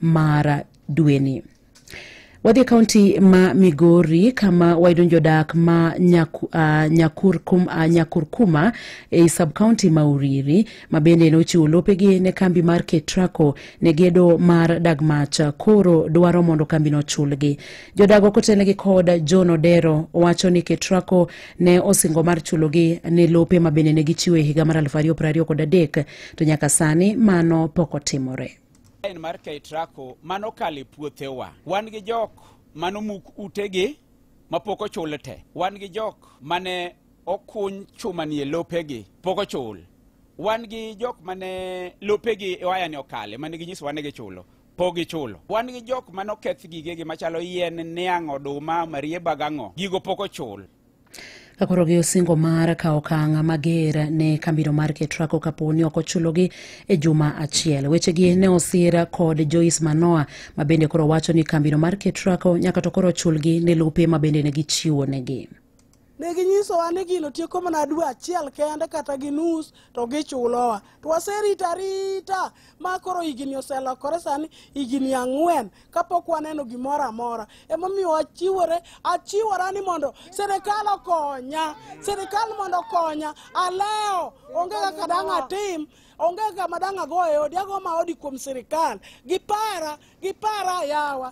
mar dweni wadhi e kaunti ma migori kama wayudo jodak ma nyaku, uh, nyakurkum, uh, nyakurkuma e i subkaunti ma uriri ma bende ne ochiwo lopegi ne kambi mar ketraco ne gedo mar dagmach koro dwaro mondo kambino chulgi jodago kotelnegi kod john odero wacho ni ketraco ne osingo mar chulogi ne lope ma bende ne gichiwo e higa mar 2023 to nyaka sani mano pok otimore en mar Keitrako mano kale puothewa. Wan gi jok mano muk utegi mapok ochul te. Wan gi jok mane okuny chuma nie lopegi pok ochul. Wan gi jok mane lopegi waya ni okale mane ginyiso wane gichulo pok gichulo. Wan gi jok mane oketh gigegi machalo yien, niang', oduma, marieba gang'o gigo pok ochul. kakoro gi osingo mar kawo okang' mager ne kambino mar ketrako kapo ni ok ochulogi e juma achiel wechegi ne osir kod joyce manoa ma bende koro wacho ni kambino mar ketrako nyaka to koro ochulgi ne lope ma bende ne gichiwo negi ne ginyisowa ni gino tieko mana dwe achiel kende kata gi nus to gichulowa to waserito arita ma koro higni oselokore sani higni ang'wen kapok waneno gimoro amora emomiyo achiwore achiwora ni mondo sirikal okonya sirikal mondo okonya aleo onge kaka dang' atim onge kaka ma dang' ago e odi ago ma odi kuom sirikal gipara gipara yawa